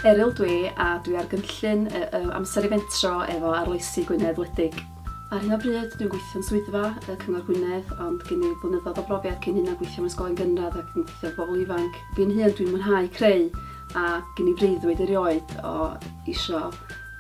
Eryl dwi a dwi ar gynllun y y amser i fentro efo arloesi Gwynedd wledig. Ar hyn o bryd dwi'n gweithio'n swyddfa y Cyngor Gwynedd ond gen i flynyddoedd o brofiad cyn hynna gweithio mewn ysgolion gynradd ac yn gweithio efo bobl ifanc. Fi'n hun dwi'n mwynhau creu a gen i freuddwyd erioed o isio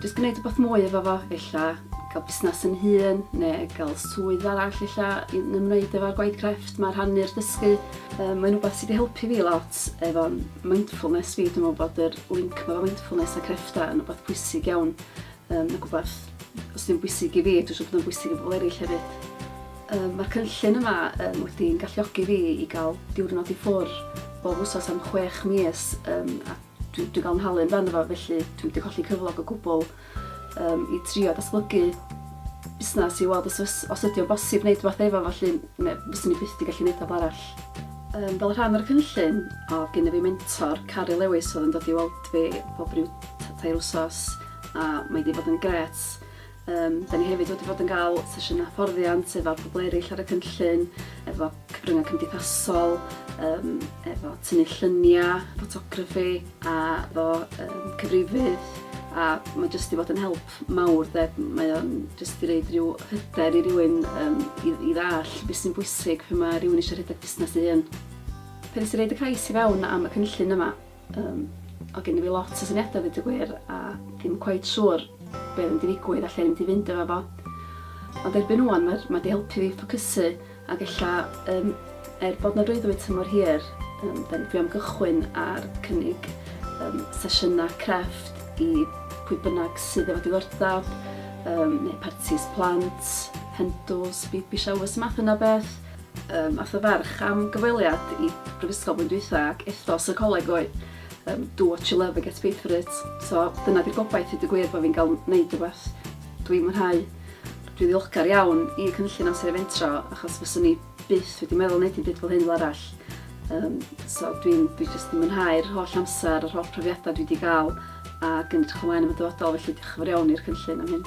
Jyst gwneud rhywbeth mwy efo fo, ella cael busnes yn hun neu gael swydd arall ella i ymwneud efo'r gwaith crefft mae rhannu'r dysgu. Um, mae'n rhywbeth sydd wedi helpu fi lot efo mindfulness fi. Dwi'n meddwl bod yr link mae mindfulness a crefftau yn rhywbeth pwysig iawn. Um, mae'n gwybod, os dwi'n bwysig i fi, dwi'n siŵr bod yn bwysig i bobl eraill hefyd. Um, Mae'r cynllun yma um, wedi'n galluogi fi i gael diwrnod i ffwrdd bob wsos am chwech mis um, a Dwi, dwi gael yn halu amdano fo, felly dwi wedi colli cyflog o gwbl um, i trio datblygu busnes i weld os, os ydy o'n bosib wneud rhywbeth efo fo, felly ne, fyswn i byth wedi gallu wneud pobl arall. Um, fel rhan o'r cynllun, o gen i fi mentor, Cari Lewis, oedd yn dod i weld fi pob rhyw tair wsos, a mae wedi bod yn gret. Yym, da ni hefyd wedi bod yn cael sesiynau hyfforddiant efo pobl eraill ar y cynllun, efo cyfryngau cymdeithasol, um, efo tynnu lluniau, ffotograffi a efo um, cyfrifydd a mae jyst i fod yn help mawr de, mae o'n jyst i reid rhyw hyder i rywun um, i, i ddall beth sy'n bwysig pan mae rhywun eisiau rhedeg busnes ei hun. Pan nes i reid y cais i fewn am y cynllun yma, Yym, oedd gen i fi lot o syniadau ddeud y gwir a ddim cweit siŵr be' oedd mynd i ddigwydd a lle mynd i fynd efo fo. Ond erbyn ŵan ma' ma' 'di helpu fi ffocysu ac ella yym er bod 'na breuddwyd tymor hir yym dan dwi am gychwyn ar cynnig yym sesiyna crefft i pwy bynnag sydd efo diddordab yym neu partis plant, hendws, baby showers y math yna o beth. Yym, ath y ferch am gyfweliad i Brifysgol blwyddyn dwytha ac ethos y coleg oedd um, do what you love and get paid for it. So dyna di'r gobaith i dy gwir bod fi'n cael wneud rhywbeth dwi'n mwynhau. Dwi ddiolchgar iawn i cynllun amser eventro achos fyswn ni byth wedi meddwl wneud i byd fel hyn fel arall. Um, so dwi'n dwi just yn mwynhau'r holl amser, yr holl profiadau dwi wedi cael ac yn edrych ymlaen am y dyfodol felly diolch yn fawr iawn i'r cynllun am hyn.